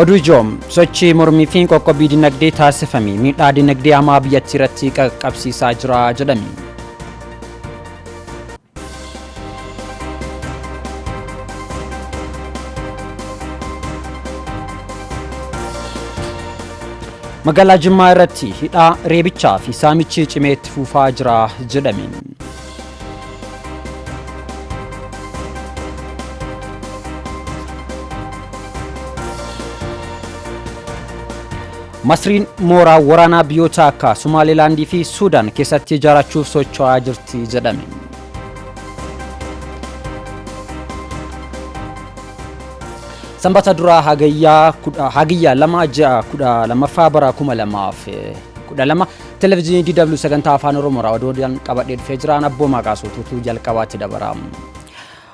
Oduu ijoo sochii mormii fi qoqqobbii dinagdee taasifame miidhaa dinagdee hamaa biyyattii irratti qaqqabsiisaa jira jedhame. Magaalaa Jimmaa irratti hidhaa reebichaa fi saamichi cimee itti fufaa jira jedhame. Masriin mooraa waraanaa biyyoota akka Somaalilaandii fi Suudaan keessatti ijaarachuuf socho'aa jirti jedhame. Sanbata duraa hagayyaa lama ji'a kudha lamaffaa bara kuma lamaaf kudha lama Televizyinii DW sagantaa afaan Oromoorraa oduudhaan qabadhee dhufee jiraan abboomaa kaasuutuutu jalqabaatti dabara.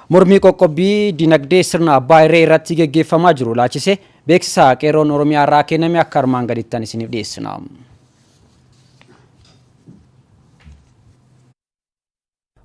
Mormii qoqqobbii dinagdee sirna abbaa irree irratti geggeeffamaa jiru laachise beeksisa qeerroon Oromiyaa irraa kenname akka armaan gadiittan isiniif dhiyeessina.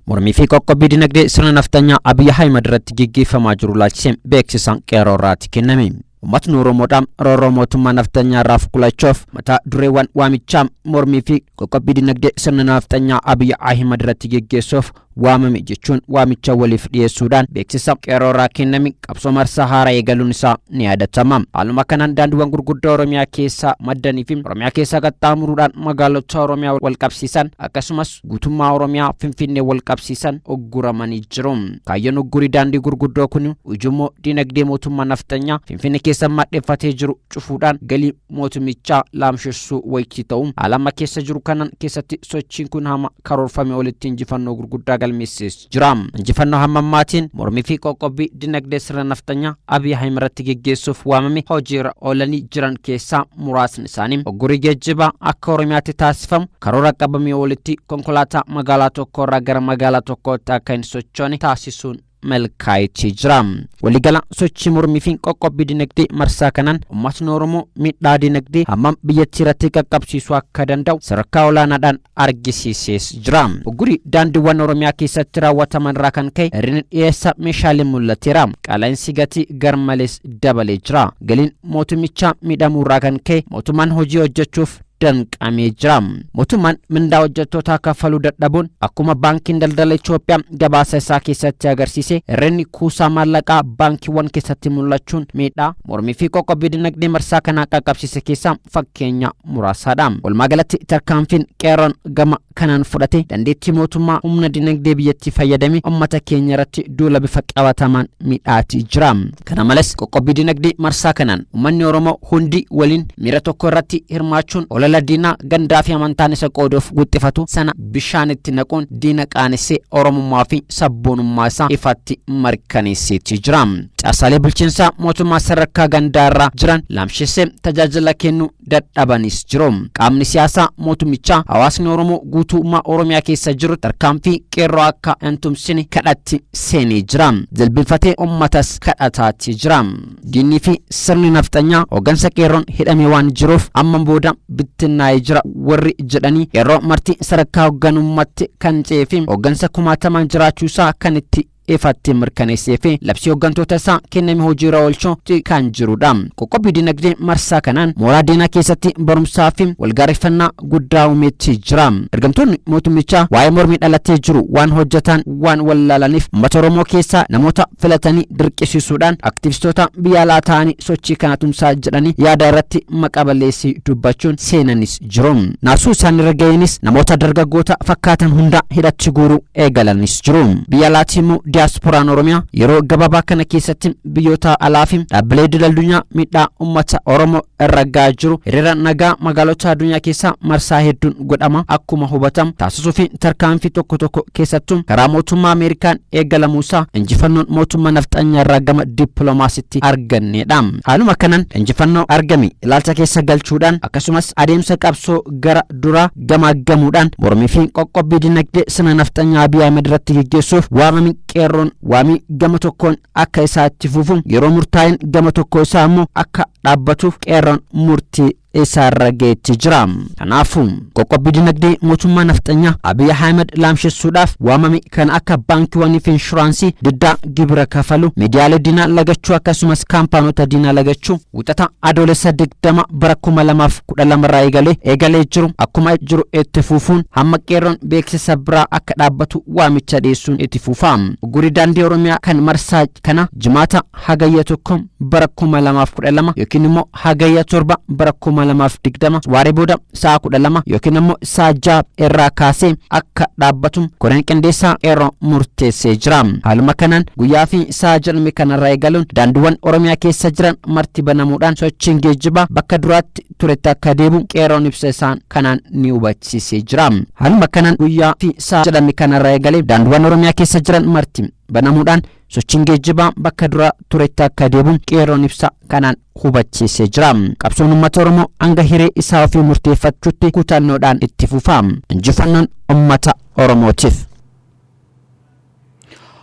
Mormii fi qoqqobbii dinagdee sirna naftanyaa Abiy Ahimad irratti geggeeffamaa jiru ilaalchisee beeksisaan qeerroo irraatti kenname. Uummatni Oromoodhaa roorroo mootummaa naftanyaa irraa fuqulachuuf mataa dureewwan waamichaa mormii fi qoqqobbii dinagdee sirna naftanyaa Abiy Ahimad irratti geggeessuuf waamame jechuun waamicha waliif dhiyeessuudhaan beeksisa qeerroo irraa kenname qabsoo marsaa haaraa eegaluun isaa ni yaadatama. Haaluma kanaan daandiiwwan gurguddaa Oromiyaa keessaa maddanii fi Oromiyaa keessaa qaxxaamuruudhaan magaalota Oromiyaa walqabsiisan akkasumas guutummaa Oromiyaa Finfinnee walqabsiisan ugguramanii jiru. Kaayyoon uggurii daandii gurguddoo kun ujummoo dinagdee mootummaa nafxanyaa Finfinnee keessa madheffatee jiru cufuudhaan galii mootummichaa laamshessuu wayitii ta'u haala amma keessa jiru kanan keessatti sochiin kun hama karoorfame olitti injifannoo gurguddaa galmeessees jira. Injifannoo hammammaatiin mormii fi qoqqobbii dinagdee sirna nafxanyaa Abiy Ahim irratti geggeessuuf waamame hojiirra oolanii jiran keessaa muraasni isaanii oggurii geejjibaa akka Oromiyaatti taasifamu karoora qabamee olitti konkolaataa magaalaa tokko irraa gara magaalaa tokkootti akka hin sochoone taasisuun milkaa'eetii jira. Waliigala sochii mormii fi qoqqobbii dinagdee marsaa kanaan uummatni Oromoo miidhaa dinagdee hammam biyyattii irratti qaqqabsiisuu akka danda'u sadarkaa olaanaadhaan argisiisees jira. Uggurii daandiiwwan Oromiyaa keessatti raawwataman irraa kan ka'e hir'inni dhiyeessa meeshaalee mul'ateera. Qaala'insi gatii garmalees dabalee jira. Galiin mootummichaa miidhamuu irraa kan ka'e mootummaan hojii hojjechuuf danqamee jira. Mootummaan mindaa hojjettootaa kaffaluu dadhabuun akkuma baankiin daldala Itoophiyaa gabaasa isaa keessatti agarsiise hir'inni kuusaa maallaqaa baankiiwwan keessatti mul'achuun miidhaa mormii fi qoqqobbii dinagdee marsaa kanaa qaqqabsiise keessaa fakkeenya muraasaadha. Walumaa galatti tarkaanfiin qeerroon gama kanaan fudhate dandeettii mootummaa humna dinagdee biyyattii fayyadame ummata keenya irratti duula bifa qabatamaan midhaatii jira. Kana malees qoqqobbii dinagdee marsaa kanaan ummanni Oromoo hundi waliin miira tokko irratti hirmaachuun olola diinaa gandaa fi amantaan isa qooduuf guxxifatu sana bishaanitti naquun diina qaanessee Oromummaa fi sabboonummaa isaa ifatti mirkaneesseetii jira. Caasaalee bulchiinsaa mootummaa sadarkaa gandaa irraa jiran laamshessee tajaajila kennuu dadhabanis jiru. Qaamni siyaasaa mootummichaa hawaasni Oromoo guutummaa Oromiyaa keessa jiru tarkaanfii qeerroo akka hin tumsine kadhatti seenee jira. Jilbinfatee ummatas kadhataatti jira. Diinnii fi sirni nafxanyaa hoggansa qeerroon hidhamee waan jiruuf amma booda bittinnaa'ee jira warri jedhanii qeerroo marti sadarkaa hogganummaatti kan ce'ee fi hoggansa kumaatamaan jiraachuusaa kan itti ifatti mirkaneessee fi labsii hooggantoota isaa kenname hojiirra oolchuu kan jirudha. Qoqqobbii dinagdee marsaa kanaan mooraa diinaa keessatti barumsaa fi walgaareffannaa guddaa uumeetti jira. Ergamtoonni mootummichaa waa'ee mormii dhalatee jiru waan hojjetaan waan wallaalaniif uummata Oromoo keessaa namoota filatanii dirqisiisuudhaan aktivistoota biyya alaa ta'anii sochii kana tumsaa jedhanii yaada irratti maqaa balleessii dubbachuun seenanis jiru. Naasuu isaanirra ga'eenis namoota dargaggoota fakkaatan hunda hidhatti guuruu eegalanis jiru. Biyya alaatii immoo diyaaspooraan Oromiyaa yeroo gabaabaa kana keessatti biyyoota alaa fi dhaabbilee idil addunyaa miidhaa uummata Oromoo irra ga'aa jiru hiriira nagaa magaalota addunyaa keessaa marsaa hedduun godhama akkuma hubatamu taasisuu fi tarkaanfii tokko tokko keessattuu karaa mootummaa Ameerikaan eegalamuusaa injifannoon mootummaa nafxanyaarraa gama dippiloomaasitti arganneedha. Haaluma kanaan injifannoo argame ilaalcha keessa galchuudhaan akkasumas adeemsa qabsoo gara duraa gamaaggamuudhaan mormii fi qoqqobbii dinagdee sirna nafxanyaa Abiy Ahmed irratti geggeessuuf waamame qeerroon waamii gama tokkoon akka isaa itti fufu yeroo murtaa'een gama tokko isaa immoo akka dhaabbatuuf qeerroon murtii eessaarra geetti jira. Kanaafuu qoqqobbii dinagdee mootummaa nafxanyaa Abiy Ahmed laamshessuudhaaf waamame kan akka baankiiwwanii fi inshuraansii diddaa gibira kafalu, miidiyaalee diinaa lagachuu akkasumas kaampaanota diinaa lagachuu wixata Adoolessa 20 bara 2012 irraa eegalee eegalee jiru akkuma jiru itti fufuun hamma qeerroon beeksisa biraa akka dhaabbatu waamicha dhiyeessuun itti fufa. Uggurri daandii Oromiyaa kan marsaa kana jimaata hagayya tokko bara 2012 yookiin immoo Hagayya 7 bara 2020 waaree booda sa'a 12 yookiin ammoo sa'a 6 irraa kaasee akka dhaabbatu koreen qindeessaa qeerroo murteessee jira. Haaluma kanaan guyyaa fi sa'a jedhame kanarraa eegaluun daandiiwwan Oromiyaa keessa jiran marti banamuudhaan sochiin geejjibaa bakka duraatti turetti akka deebi'u qeerroon ibsa isaan kanaan ni hubachiisee jira. Haaluma kanaan guyyaa fi sa'a jedhame kanarraa eegalee daandiiwwan Oromiyaa keessa jiran marti banamuudhaan Sochiin geejjibaa bakka dura turetti akka deebi'u qeerroon ibsa kanaan hubachiisee jira. Qabsoon uummata Oromoo hanga hiree isaa ofii murteeffachuutti kutannoodhaan itti fufa. Injifannoon uummata Oromootiif.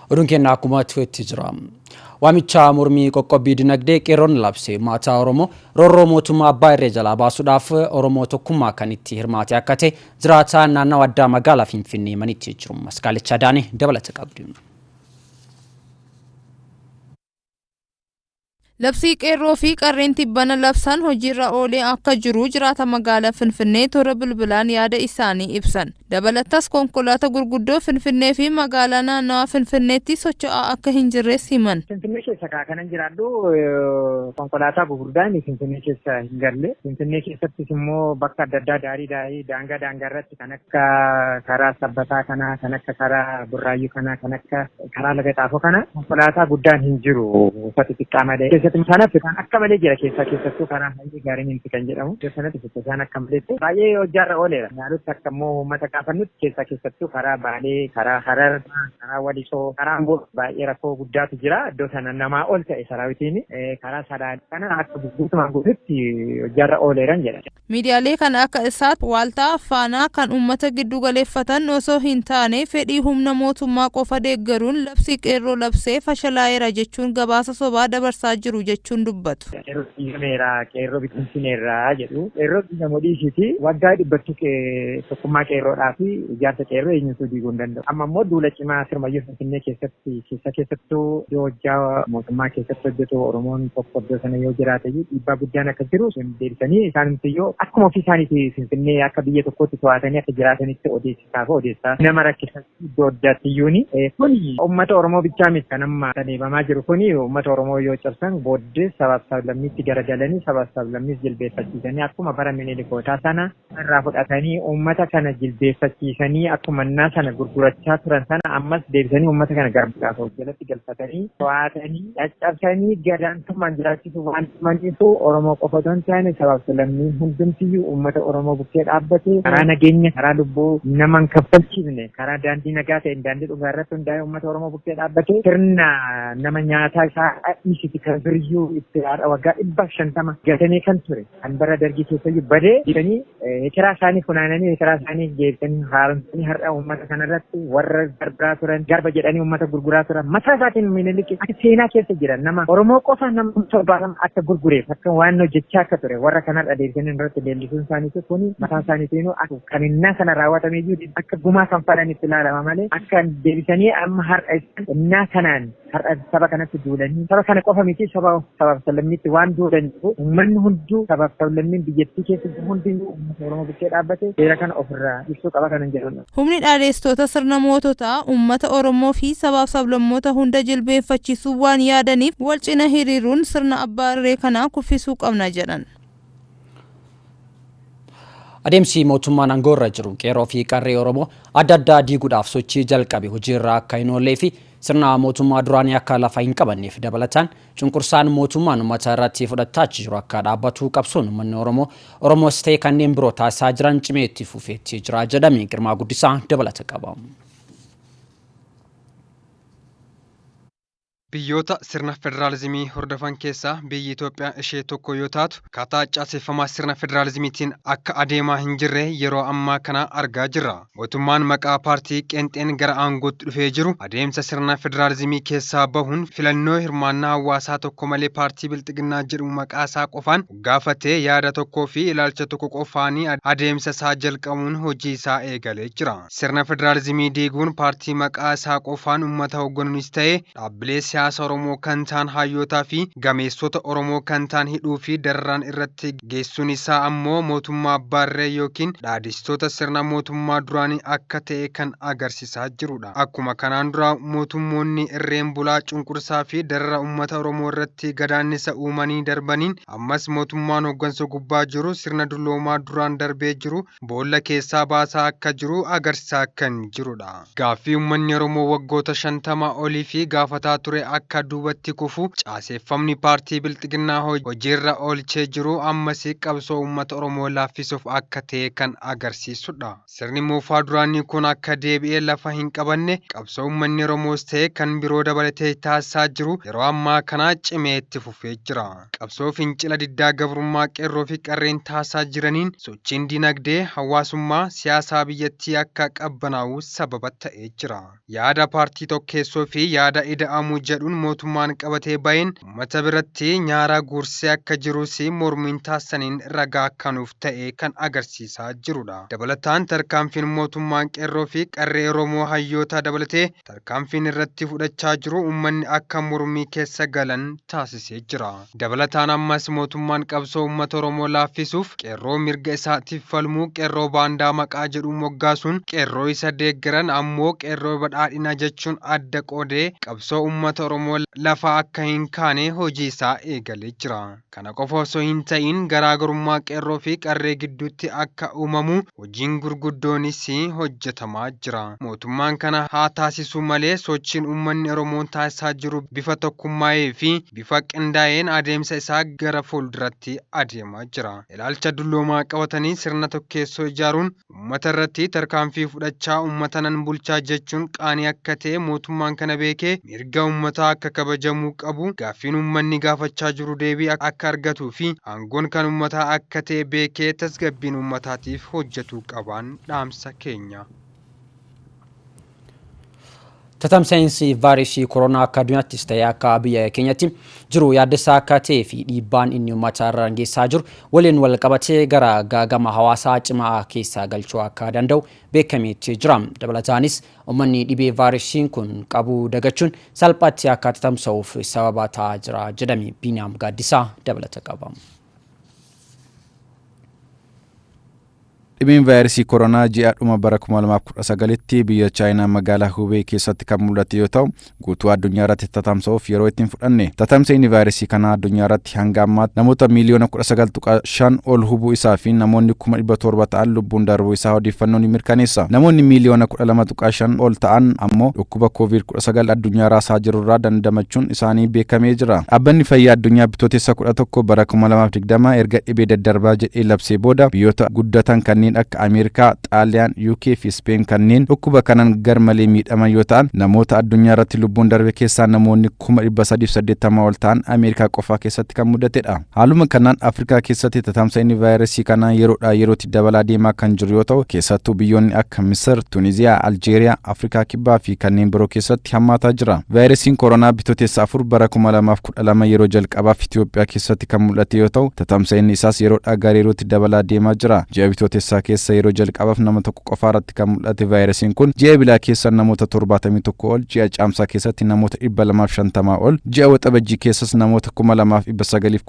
Oduun keenya akkuma turetti jira. Waamicha mormii qoqqobbii dinagdee qeerroon labse maataa Oromoo roorroo mootummaa abbaa irree jalaa baasuudhaaf Oromoo tokkummaa kan itti hirmaate akka ta'e jiraataa naannawa addaa magaalaa Finfinnee himanitti jiru. Maskaalicha Daanee dabalata qabdi. Labsii Qeerroo fi Qarreen tibbana labsan hojiirra oolee akka jiru jiraata magaala Finfinnee toora bilbilaan yaada isaanii ibsan. Dabalatas konkolaata gurguddoo Finfinnee fi magaalaa naannawaa Finfinneetti socho'aa akka hin jirres himan. Finfinnee keessa kaa kanan jiraadhu konkolaataa gurguddaan Finfinnee keessa hin galle. Finfinnee keessattis immoo bakka adda addaa daarii daarii daangaa daangaa irratti kan akka karaa sabbataa kanaa kan akka karaa burraayyuu kanaa kan akka karaa laga xaafoo kana konkolaataa guddaan hin jiru uffata xiqqaa malee keessatti sana fitaan akka malee jira keessaa keessattuu karaa haalli gaariin hin fitan jedhamu iddoo sanatti fitasaan akka malee baay'ee hojjaarra ooleera naalutti akka immoo uummata kaafannutti keessaa keessattuu karaa baalee karaa harar karaa walisoo karaa amboo baay'ee rakkoo guddaatu jira iddoo sana namaa ol ta'e saraawitiin karaa sadaa kana akka guutumaan guututti hojjaarra ooleeran jedha. Miidiyaalee kan akka Isaat, Waaltaa, Faanaa kan uummata giddu galeeffatan osoo hin taane fedhii humna mootummaa qofa deeggaruun labsii Qeerroo labsee fashalaa'eera jechuun gabaasa sobaa dabarsaa jiru jechuun dubbatu. Qeerroo diigameera, Qeerroo bittimsineerra jedhu. Qeerroo diigamu dhiisiiti waggaa dhibbatti tokkummaa Qeerroodhaa fi ijaarsa Qeerroo eenyuutuu diiguu hin danda'u. Amma immoo duula cimaa sirmayyuu. Finfinnee keessatti keessa keessattuu iddoo hojjaa mootummaa keessatti hojjetu Oromoon tokko iddoo sana yoo jiraate iyyuu dhiibbaa guddaan akka jiru deebisanii isaanumti iyyuu akkuma ofii isaaniiti Finfinnee akka biyya tokkootti to'atanii akka jiraatanitti odeessisaa fi odeessaa nama rakkisa iddoo addaatti iyyuuni. Kun uummata Oromoo bichaa miti kan amma adeemamaa jiru kun uummata Oromoo yoo cabsan booddees sabaaf sablammiitti garagalanii sabaaf sablammiis jilbeeffachiisanii akkuma bara Minilikootaa sana irraa fudhatanii uummata kana jilbeeffachiisanii akkuma innaa sana gurgurachaa turan sana ammas deebisanii uummata kana garbuudhaaf of jalatti galfatanii to'atanii caccabsanii gadaantummaan jiraachisuuf waan dhumaniifu Oromoo qofa otoo hin taane sabaaf lammiin hundumtiyyuu uummata Oromoo bukkee dhaabbate karaa nageenya karaa lubbuu nama hin kaffalchiifne karaa daandii nagaa ta'een daandii dhugaa irratti hundaa'ee uummata Oromoo bukkee dhaabbate sirna nama nyaataa isaa dhiisiti kan biryyuu itti haadha waggaa dhibba shantama gatamee kan ture kan bara dargii keessayyu badee jedhanii hekeraa isaanii funaananii hekeraa isaanii deebisanii haaromsanii har'a uummata kanarratti warra garbaa turan garba jedhanii uummata gurguraa turan mataa isaatiin miniliki akka seenaa keessa jiran nama Oromoo qofa nama torbaatama akka gurgureef akka waan hojjechaa akka ture warra kanarra deebisanii irratti leellisuun isaaniitu kuni mataa isaaniitiin akka kaminnaa kana raawwatame iyyuu akka gumaa kan fadhan itti ilaalama malee akka deebisanii amma har'a innaa kanaan Har'a saba kanatti duulanii saba kana qofa miti saba sabaaf sablammiitti waan duulaniif uummanni hunduu sabaaf sablammiin biyyattii keessa jiru hundinuu uummata Oromoo bukkee dhaabbatee seera kana ofirraa ibsuu qaba kanan jedhudha. Humni dhaadheessitoota sirna moototaa uummata Oromoo fi sabaaf sablammoota hunda jilbeenfachiisuu waan yaadaniif wal cina hiriiruun sirna abbaa irree kanaa kuffisuu qabna jedhan. Adeemsi mootummaan aangoo irra jiru qeerroo fi qarree Oromoo adda addaa diiguudhaaf sochii jalqabe hojiirra akka hin oollee fi Sirna mootummaa duraanii akka lafa hin qabanneef dabalataan cunqursaan mootummaan uummata irratti fudhattaachi jiru akka dhaabbatu qabsoon uummanni Oromoo, Oromoos ta'e kanneen biroo taasisaa jiran cimee itti fufeetti jira jedhame Girmaa Guddisaa dabalata qaba. Biyyoota sirna federaalizimii hordofan keessaa biyyi Itoophiyaa ishee tokko yoo taatu, akkaataa caaseffamaa sirna federaalizimiitiin akka adeemaa hin jirre yeroo ammaa kana argaa jirra. Mootummaan maqaa paartii qeenxeen gara aangootti dhufee jiru adeemsa sirna federaalizimii keessaa bahuun filannoo hirmaannaa hawaasaa tokko malee paartii Bilxiginnaa jedhamu maqaa isaa qofaan moggaafatee yaada tokkoo fi ilaalcha tokko qofaanii adeemsa isaa jalqabuun hojii isaa eegalee jira. Sirna federaalizimii diiguun paartii maqaa isaa qofaan ummata hogganuunis ta'ee Dhaabbilee siyaasa Oromoo kan taan hayyootaa fi gameessota Oromoo kan taan hidhuu fi dararaan irratti geessuun isaa ammoo mootummaa abbaa irree ykn dhaadhessitoota sirna mootummaa duraanii akka ta'e kan agarsisaa jiru dha. Akkuma kanaan duraa mootummoonni irreen bulaa cunqursaa fi darara ummata Oromoo irratti gadaannisa uumanii darbaniin ammas mootummaan hoggansa gubbaa jiru sirna dulloomaa duraan darbee jiru boolla keessaa baasaa akka jiru agarsisaa kan jiru dha. Gaaffii ummanni Oromoo waggoota 50 oliif gaafataa ture akka duubatti kufu caaseeffamni paartii Bilxiginnaa hojiirra oolchee jiru ammas qabsoo ummata Oromoo laaffisuuf akka ta'e kan agarsiisu dha. Sirni moofaa duraanii kun akka deebi'ee lafa hin qabanne qabsoo ummanni Oromoos ta'e kan biroo dabalatee taasisaa jiru yeroo ammaa kana cimee itti fufee jira. Qabsoo fincila diddaa gabrummaa qeerroo fi qarreen taasisaa jiraniin sochiin dinagdee, hawaasummaa, siyaasaa biyyattii akka qabbanaa'u sababa ta'ee jira. Yaada paartii tokkeessoo fi yaada ida'amuu jedhuun mootummaan qabatee ba'een ummata biratti nyaara guursee akka jiruus mormiin taasisaniin ragaa akka nuuf ta'e kan agarsiisaa jirudha. Dabalataan tarkaanfiin mootummaan qeerroo fi qarree Oromoo hayyoota dabalatee tarkaanfiin irratti fudhachaa jiru uummanni akka mormii keessa galan taasisee jira. Dabalataan ammas mootummaan qabsoo uummata Oromoo laaffisuuf qeerroo mirga isaatiif falmuu qeerroo baandaa maqaa jedhuun moggaasuun qeerroo isa deeggaran ammoo qeerroo badhaadhinaa jechuun adda qoodee qabsoo uummata Oromoo lafaa akka hin kaane hojii isaa eegalee jira. Kana qofa osoo hin ta'iin garaagarummaa qeerroo fi qarree gidduutti akka uumamu hojiin gurguddoonis hojjetamaa jira. Mootummaan kana haa taasisuu malee sochiin uummanni Oromoo taasisaa jiru bifa tokkummaa'ee fi bifa qindaa'een adeemsa isaa gara fuulduratti adeemaa jira. Ilaalcha dulloomaa qabatanii sirna tokkeessoo ijaaruun, Ummata irratti tarkaanfii fudhachaa ummata nan bulchaa jechuun qaanii akka ta'e mootummaan kana beekee mirga ummataa akka kabajamuu qabu, gaaffiin ummanni gaafachaa jiru deebii akka argatuu fi aangoon kan ummataa akka ta'e beekee tasgabbiin ummataatiif hojjetuu qabaan dhaamsa keenya. Tatamsa'insi vaayiresii koronaa akka addunyaattis ta'e akka biyya keenyatti jiru yaaddessaa akka ta'ee fi dhiibbaan inni uummata irra geessaa jiru waliin wal qabatee gara gaagama hawaasaa cimaa keessaa galchuu akka danda'u beekameetti jira. Dabalataanis uummanni dhibee vaayiresiin kun qabu dagachuun salphaatti akka tatamsa'uuf sababa ta'aa jira jedhame Biiniyaam Gaaddisaa dabalata qaba. Dhibeen vaayiresii koronaa ji'a dhuma bara 2019tti biyya Chaayinaa magaalaa Hubei keessatti kan mul'ate yoo ta'u, guutuu addunyaa irratti tatamsa'uuf yeroo itti hin fudhanne. Tatamsa'inni vaayiresii kanaa addunyaa irratti hanga ammaatti namoota miiliyoona 19.5 ol hubuu isaa fi namoonni kuma 700 ta'an lubbuun darbuu isaa odeeffannoon ni mirkaneessa. Namoonni miiliyoona 12.5 ol ta'an ammoo dhukkuba Covid 19 addunyaa raasaa jirurraa dandamachuun isaanii beekamee jira. Dhaabbanni Fayyaa Addunyaa Bitootessa 11 bara 2020 erga dhibee daddarbaa jedhee labsee booda biyyoota guddatan kanneen akka Ameerikaa, Xaaliyaan, UK fi Ispeen kanneen dhukkuba kanaan garmalee miidhaman yoo ta'an namoota addunyaa irratti lubbuun darbe keessaa namoonni 380 ol ta'an Ameerikaa qofaa keessatti kan mudatedha. Haaluma kanaan Afrikaa keessatti tatamsa'inni vaayirasii kanaa yeroodhaa yerootti dabalaa deemaa kan jiru yoo ta'u keessattuu biyyoonni akka Misir, Tuniziyaa, Aljeeriyaa, Afrikaa Kibbaa fi kanneen biroo keessatti hammaataa jira. Vaayirasiin koronaa bitootessa afur bara 2012 yeroo jalqabaaf Itoophiyaa keessatti kan mul'ate yoo ta'u tatamsa'inni isaas yeroodhaa gara yerootti dabalaa deemaa jira. Ji'a bitootessaa keessa yeroo jalqabaaf nama tokko qofaa irratti kan mul'ate vaayirasiin kun ji'a Ebilaa keessa namoota 71 ol, ji'a Caamsaa keessatti namoota 250 ol, ji'a Waxabajjii keessas namoota 2900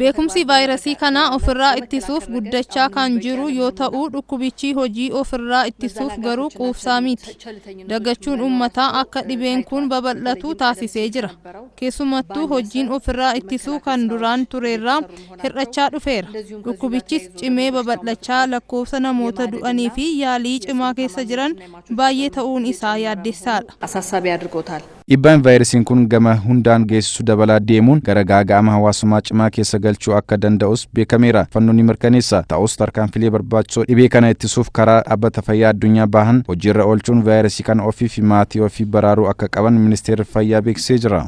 Beekumsi vaayirasii kana ofirraa ittisuuf guddachaa kan jiru yoo ta'u, dhukkubichi hojii ofirraa ittisuuf garuu quufsaa miti. Dagachuun uummataa akka dhibeen kun babal'atu taasisee jira. Keessumattuu hojjiin ofirraa ittisuu kan duraan tureerraa hir'achaa dhufeera. Dhukkubichis cimee babal'achaa lakkoofsa namoota du'aniifi yaalii cimaa keessa jiran baay'ee ta'uun isaa yaaddessaadha. Dhiibbaan vaayirasiin kun gama hundaan geessisu dabalaa deemuun gara gaaga'ama hawaasummaa cimaa keessa galchuu akka danda'us beekameera. Fannoon ni mirkaneessa. Ta'us tarkaanfilee barbaachisoo dhibee kana ittisuuf karaa Dhaabbata Fayyaa Addunyaa bahan hojiirra oolchuun vaayirasii kana ofii fi maatii ofii baraaruu akka qaban Ministeerri Fayyaa beeksisee jira.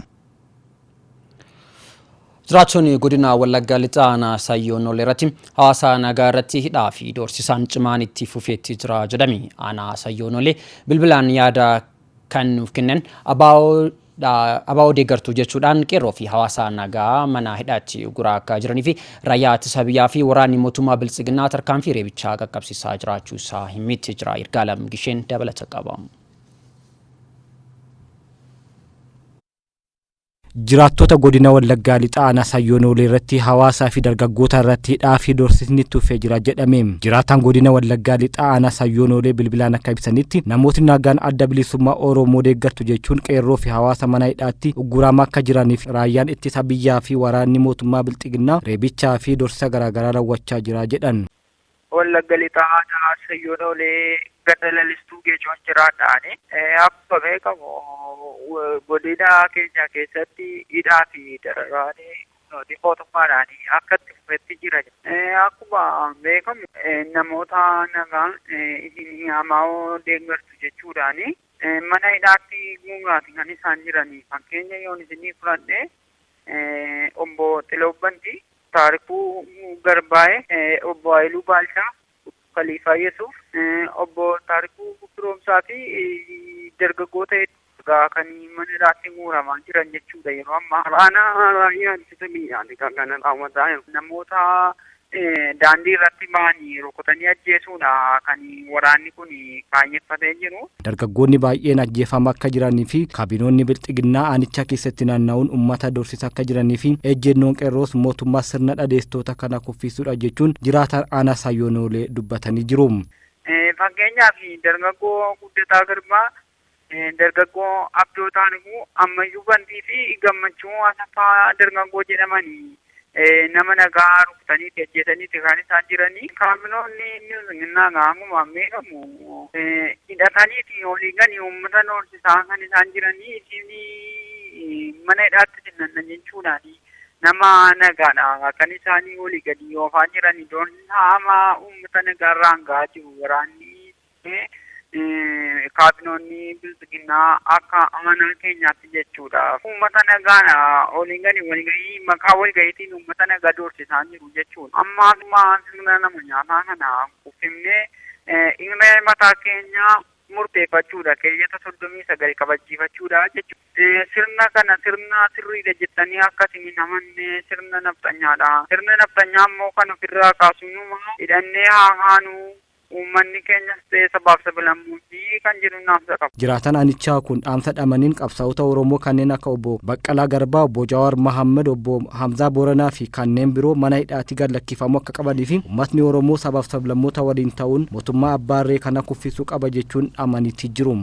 Jiraattonni godina Wallaggaa Lixaa aanaa Sayyoo Nolee irratti hawaasa nagaa irratti hidhaa fi doorsisaan cimaan itti fufeetti jira jedhame. Aanaa Sayyoo Nolee bilbilaan yaada kan nuuf kennan abo dha, abo deeggartu jechuudhaan qeerroo fi hawaasa nagaa mana hidhaatti uguraa akka jiranii fi raayyaa ittisa biyyaa fi waraanni mootummaa biltsiginnaa tarkaanfii reebichaa qaqqabsiisaa jiraachuu isaa himmitti jira. Yirgaalam Gisheen dabalata qaba. Jiraattota godina Wallaggaa Lixaa aanaa Sayyoo Noolee irratti hawaasaa fi dargaggoota irratti hidhaa fi doorsisni itti fufee jira jedhame. Jiraataan godina Wallaggaa Lixaa aanaa Sayyoo Noolee bilbilaan akka ibsanitti namootni nagaan adda bilisummaa Oromoo deeggartu jechuun qeerroo fi hawaasa mana hidhaatti ugguramaa akka jiraniif raayyaan ittisa biyyaa fi waraanni mootummaa Bilxiginnaa reebichaa fi doorsisa garaagaraa raawwachaa jira jedhan. Wallagga Lixaa Aanaa Assayyoon Oolee Ganda Lalistuu Geecoon jiraadha ani. Akkuma beekamu godina keenya keessatti hidhaa fi dararaan humnootii mootummaadhaan akka itti fufetti jira. Akkuma beekamu namoota nagaa isin ABOn deeggartu jechuudhaan mana hidhaatti guuraa kan isaan jiran. Fakkeenya yoon isinii fudhadhe Obbo Xilaw Bantii, Taarikuu Garbaayee, Obbo Hayiluu Baalchaa, Kaliifaa Yesuuf, Obbo Taarikuu Firoomsaa fi dargaggoota hedduu egaa kan mana hidhaatti guuramaa jiran jechuudha yeroo ammaa. Aanaa Raayyaa Ittisa Biyyaati kan kana raawwataa jiru. Namoota daandii irratti bahanii rukutanii ajjeesuudha kan waraanni kun kaayyeffatee jiru. Dargaggoonni baay'een ajjeefama akka jiranii fi kaabinoonni bilxiginnaa aanichaa keessatti naanna'uun uummata doorsisa akka jiranii fi ejjennoon qeerroos mootummaa sirna dhadeesstoota kana kuffiisuudha jechuun jiraataan aanaa Saayyoonoolee dubbatanii jiru. Fakkeenyaaf dargaggoo Guddataa Girmaa Dargaggoo Abdoo Xaanhuu ammayyuu Bantii fi Gammachuu Asaffaa Dargaggoo jedhaman nama nagaa rukutanii itti ajjeesaniiti kan isaan jiranii. Kaabinoonni bilxiginnaa egaa hanguma beekamu hidhataniiti olii gadi uummata doorsisaa kan isaan jiranii. Isin mana hidhaatti isin nanna jechuudhaani nama nagaadha kan isaanii olii gadi oofaa jiranii. Doorsisaa hamaa uummata nagaarraan gahaa jiru waraanni Kuni kaabinoonni bilxiginnaa akka amanaa keenyaatti jechuudha. Uummata nagaan olii gadi walgahii maqaa walgahiitiin uummata nagaa doorsisaa jiru jechuudha. Amma akkuma sirna nama nyaataa kana kuffifnee hiree mataa keenyaa murteeffachuudha. Keeyyata soddomii sagal kabachiifachuudha jechuudha. Sirna kana sirna sirriidha jettanii akka isin hin amanne sirna nafxanyaadha. Sirna nafxanyaa immoo kan ofirraa kaasnu numaa hidhannee haa kaanu Uummanni keenyas ta'ee sabaaf sablammoonni kan jedhuun dhaamsa qaba. Jiraataan aanichaa kun dhaamsa dhamaniin qabsaa'ota Oromoo kanneen akka Obbo Baqqalaa Garbaa, Obbo Jawaar Mahaammad, Obbo Hamzaa Booranaa fi kanneen biroo mana hidhaatii gad lakkifamuu akka qabanii fi uummatni Oromoo sabaaf sablammoota waliin ta'uun mootummaa abbaa irree kana kuffisuu qaba jechuun dhaamaniitii jiru.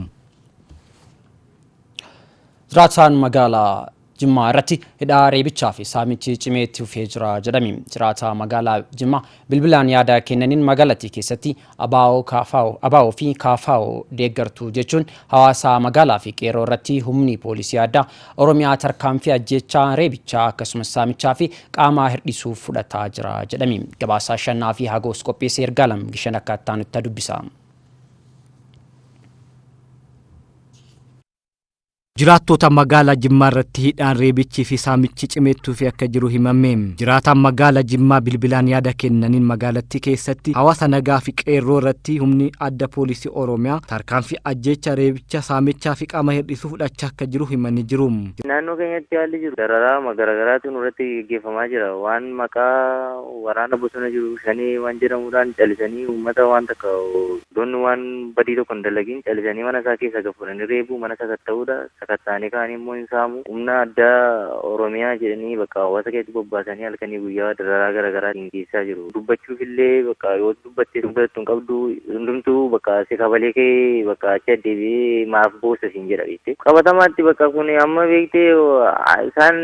Jiraataan magaalaa Jimmaa irratti hidhaa, reebichaa fi saamichi cimee itti fufee jira jedhame. Jiraataa magaalaa Jimmaa bilbilaan yaada kennaniin magaalattii keessatti ABO, KFO, ABO fi KFO deeggartu jechuun hawaasaa magaalaa fi qeerroo irratti humni poolisii addaa Oromiyaa tarkaanfii ajjeechaa, reebichaa akkasumas saamichaa fi qaamaa hirdhisuuf fudhataa jira jedhame. Gabaasaa Shannaa fi Hagoos qopheesse Ergaalam Gishan akka ittaanutti dubbisa. Jiraattoota magaalaa Jimmaa irratti hidhaan, reebichii fi saamichi cimee itti fufee akka jiru himame. Jiraataan magaalaa Jimmaa bilbilaan yaada kennaniin magaalattii keessatti hawaasa nagaa fi qeerroo irratti humni adda poolisii Oromiyaa tarkaanfii ajjeechaa, reebicha, saamichaa fi qaama hir'isuu fudhachaa akka jiru himanii jiru. Naannoo keenyatti haalli jiru dararaama garaagaraatu nurratti geggeeffamaa jira. Waan maqaa waraana bosona jiru shanee waan jedhamuudhaan calisanii uummata waan takka Dubartoonni waan badii tokko hin dalagin calisanii mana isaa keessaa gad fuudhanii reebuu, mana sakatta'uudha, sakatta'anii ka'anii immoo hin saamu. Humna addaa Oromiyaa jedhanii bakka hawaasa keessatti bobbaasanii halkanii guyyaa dararaa gara garaa ittiin geessisaa jiru. Dubbachuuf illee bakka yoo dubbatte hin fudhattu hin qabdu, hundumtuu bakka si kabalee ka'ee bakka achi addeebi'ee maaf boossa siin jedha beektee. Qabatamaatti bakka kun amma beektee isaan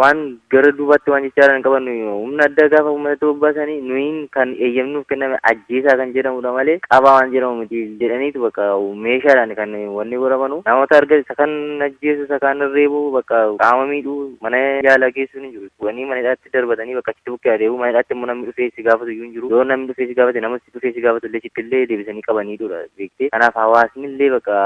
waan gara duubaatti waan jechaaran hin qaban nuyi humna addaa gaafa uummatatti bobbaasanii nuyiin kan eeyyamnuuf kenname ajjeesaa kan jedhamudha malee qabaa waan jedhamu miti jedhaniitu bakka meeshaadhaan kan wanni godhamanu namoota arga isa kan ajjeesu isa kaan reebu bakka qaama miidhuu mana yaalaa geessuun hin jiru wanii mana hidhaatti darbatanii bakka achitti bukkee adeemu mana hidhaatti immoo namni dhufee si gaafatu iyyuu hin jiru yoo namni dhufee si gaafate nama si dhufee si gaafatu illee sitti illee deebisanii qabaniidudha beektee kanaaf hawaasni illee bakka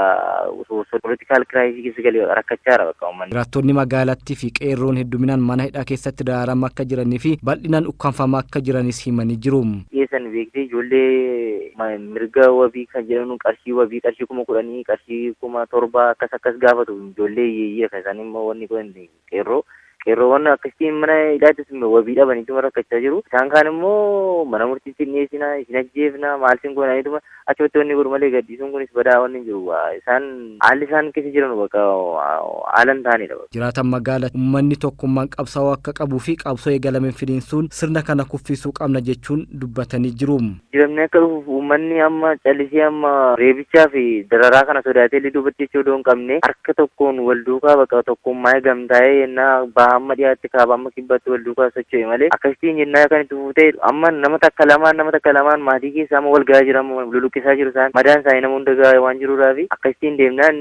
Political crisis keessa galee bakka rakkachaa jira bakka uummanni. Jiraattonni magaalattii fi qeerroon hedduminaan mana hidhaa keessatti daraaramaa akka jiranii fi bal'inaan ukkaamfamaa akka jiranis himanii jiru. dhiyeessan beektee ijoollee mirga wabii kan jedhan qarshii wabii qarshii kuma kudhanii qarshii kuma torbaa akkas akkas gaafatu ijoollee hiyyeeyyiidha kan isaan immoo wanni godhan qeerroo qeerroowwan akkasitti mana hidhaattis wabii dhabaniituma rakkachaa jiru. Isaan kaan immoo mana murtiitti hin dhiyeessina, isin ajjeefna, maal sin goonaanituma achumatti wanni godhu malee gadhiisuun kunis badaa wanni hin jiru. Isaan haalli isaan keessa jiran bakka haala hin taanedha. Jiraataan magaala ummanni tokkummaan qabsaa'uu akka qabuu fi qabsoo eegalame finiinsuun sirna kana kuffiisuu qabna jechuun dubbatanii jiru. Jijjiiramni akka dhufuuf uummanni amma calisee amma reebichaa fi dararaa kana sodaatee illee duubatti jechuu odoo hin qabne harka tokkoon wal duukaa baqa tokkummaa'ee gamtaa'ee yennaa baha amma dhiyaatti kaaba amma kibbaatti wal duukaa socho'e malee akkasittiin yennaa kan itti fufu ta'e amma nama takka lamaan nama takka lamaan maatii keessa amma wal gahaa jira amma luluqqisaa jiru isaan madaan isaanii nama hunda gahaa waan jiruudhaafi akkasittiin deemnaan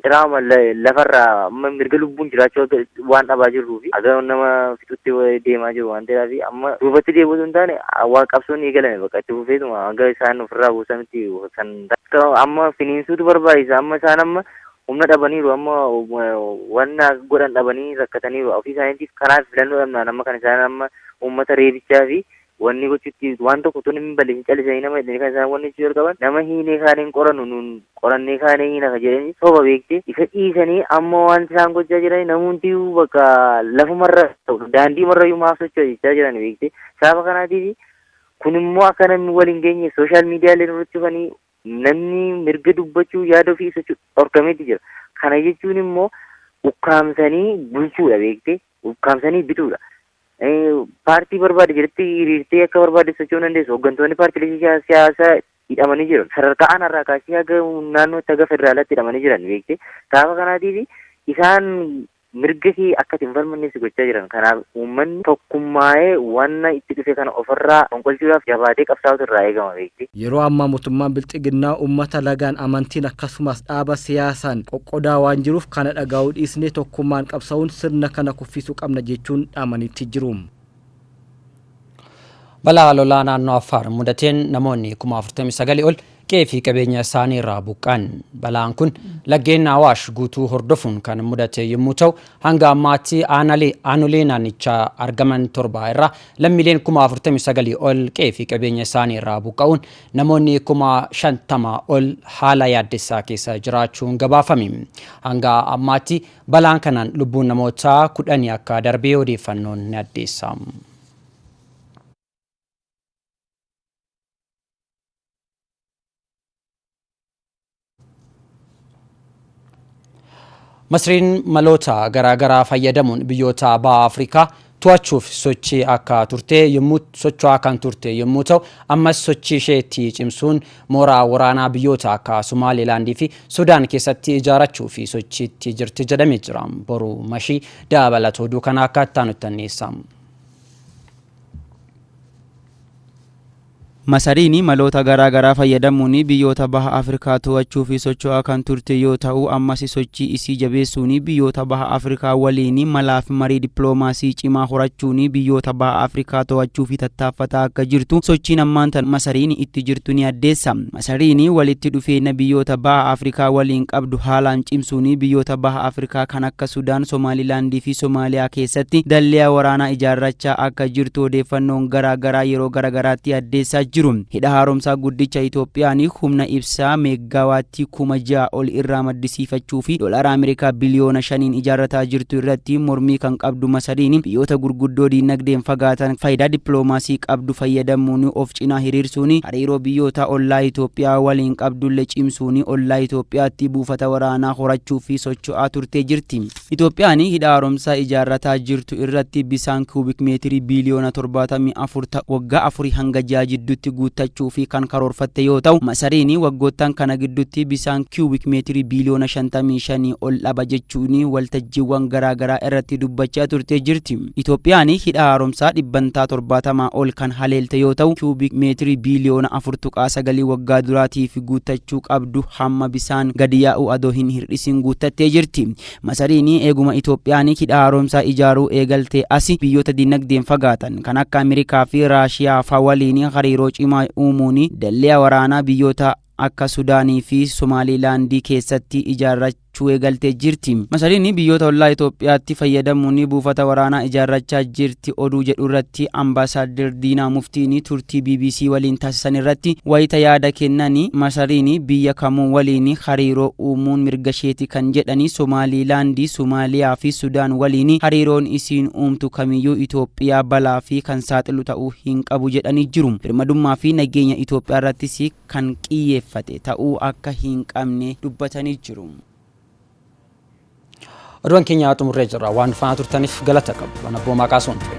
Diraama lafarraa amma mirga lubbuun jiraachuu waan dhabaa jirruu fi haga nama fixutti deemaa jiru waan ta'eef fi amma duubatti deebi'uu osoo hin taane waan qabsoon eegalame bakka itti fufeetuma hanga isaan ofirraa buusanitti kan amma finiinsuutu barbaachisa amma isaan amma humna dhabaniiru amma waan godhan dhabanii rakkataniiru ofii isaaniitiif kanaaf filannoo dhabnaan amma kan isaan amma uummata reebichaa fi Wanni gochutti waan tokko tun hin balleessin calisa hiina jedhanii kan isaan wanni jechuu jalqaban nama hiinee kaan hin qorannu nuun qorannee kaanee hiina ka jedhanii soba beekte isa dhiisanii amma wanti isaan gochaa jiranii namuuntiyyuu bakka lafumarra daandiimarrayyuu maaf socho'a jechaa jiran beekte saaba kanaatiif kun immoo akka namni wal hin geenye sooshaal miidiyaalee irratti dhufanii namni mirga dubbachuu yaada ofii ibsachuu dhorkameeti jira kana jechuun immoo ukkaamsanii bulchuudha beekte ukkaamsanii bituudha Eh, Paartii barbaade jedhetti hiriirtee akka barbaade socho'uu dandeessu. Hooggantoonni paartilee siyaa- siyaasaa hidhamanii jiru. Sadarkaa aanaarraa kaasee haga naannootti haga federaalaatti hidhamanii jiran beekte. Sababa kanaatiif isaan mirga kee akka itti hin falmanne si gochaa jiran. Kanaaf uummanni tokkummaa'ee wanna itti dhufe kana ofirraa fonqolchuudhaaf jabaatee qabsaa'utu irraa eegama beekte. Yeroo ammaa motummaan bilxiginnaa uummata lagaan, amantiin akkasumaas dhaaba siyaasaan qoqqodaa waan jiruuf kana dhagaa'uu dhiisnee tokkummaan qabsa'uun sirna kana kuffisuu qabna jechuun dhaamaniitti jiru. Balaa lolaa naannoo Affaar mudateen namoonni kuma 49 ol qe'ee fi qabeenya isaanii irraa buqqa'an. Balaan kun laggeen Awaash guutuu hordofuun kan mudate yommuu ta'u, hanga ammaatti aanaalee aanolee naannichaa argaman torba irraa lammiileen kuma 49 ol qe'ee fi qabeenya isaanii irraa buqqa'uun namoonni kuma 50 ol haala yaaddessaa keessa jiraachuun gabaafame. Hanga ammaatti Balaan kanaan lubbuun namoota kudhanii akka darbe odeeffannoon ni addeessa. Masriin maloota garaagaraa fayyadamuun biyyoota Baha Afrikaa to'achuuf sochii akka turte yommuu socho'aa kan turte yommuu ta'u ammas sochii ishee itti cimsuun mooraa waraanaa biyyoota akka Somaalilaandii fi Sudaan keessatti ijaarachuu fi sochiitti jirti jedhamee jira. Boru mashii dabalata oduu kana akka itti aanutti anniisa. Masariin maloota garaa garaa fayyadamuun biyyoota Baha Afrikaa to'achuuf socho'aa kan turte yoo ta'u, ammas sochii isii jabeessuun biyyoota Baha Afrikaa waliin malaafi marii dippiloomaasii cimaa horachuun biyyoota Baha Afrikaa to'achuuf tattaaffataa akka jirtu sochiin ammaan tana Masariin itti jirtu ni addeessa. Masariin walitti dhufeenya biyyoota Baha Afrikaa waliin qabdu haalaan cimsuun biyyoota Baha Afrikaa kan akka Sudaan, Somaalilaand fi Somaaliyaa keessatti dalleya waraanaa ijaarrachaa akka jirtu odeeffannoon garaa garaa yeroo gara garaatti addeessaa jiru. Hidha Haaromsaa Guddicha Itoophiyaan humna ibsaa meeggaawaattii kuma 6 ol irraa maddisiifachuu fi doolaara Ameerikaa biliyoona 5n ijaarrataa jirtu irratti mormii kan qabdu Masariin biyyoota gurguddoo diinagdeen fagaatan faayidaa dippiloomaasii qabdu fayyadamuun of cinaa hiriirsuun hariiroo biyyoota ollaa Itoophiyaa waliin qabdulle cimsuun ollaa Itoophiyaatti buufata waraanaa horachuuf socho'aa turtee jirti. Itoophiyaan Hidha Haaromsaa ijaarrataa jirtu irratti bisaan Cubic meetirii biiliyoona 74 ta'u waggaa afurii hanga ji'aa jidduutti guuttachuuf kan karoorfatte yoo ta'u, Masariin waggoottan kana gidduutti bisaan Cubic meetirii biiliyoona 55 ol dhaba jechuun waltajjiiwwan garaagaraa irratti dubbachaa turtee jirti. Itoophiyaan hidha haaromsaa dhibbantaa 70 ol kan haleelte yoo ta'u, cubic meetirii biiliyoona 4.9 waggaa duraatiif guuttachuu qabdu hamma bisaan gadi yaa'u adoo hin hir'isin guuttattee jirti. Masariin eeguma Itoophiyaan hidha haaromsaa ijaaruu eegaltee asi biyyoota dinagdeen fagaatan kan akka Amerikaa fi Raashiyaa fa waliin hariiroo cimaa uumuun dallia waraanaa biyyoota akka Sudaanii fi Somaaliilaandii keessatti ijaarrachuu eegaltee jirti. Masariin biyyoota ollaa Itoophiyaatti fayyadamuun buufata waraanaa ijaarrachaa jirti oduu jedhurratti Ambaasaadder Diinaa Muftiin turtii bbc waliin taasisanirratti wayita yaada kennan, Masariin biyya kamuu waliin hariiroo uumuun mirgasheeti kan jedhan Somaaliilaandii, Somaaliyaa fi Sudaan waliin hariiroon isiin uumtu kamiyyuu Itoophiyaa balaaf kan saaxilu ta'uu hin qabu jedhanii jiru. Birmadummaa fi nageenya Itoophiyaa irrattis kan qiyyeeffate ta'uu akka hin qabne dubbatanii jiru. Oduuwwan keenya xumurree jirra. Waan faana turtaniif galata qabdu. Waan abboomaa kaasuun ture.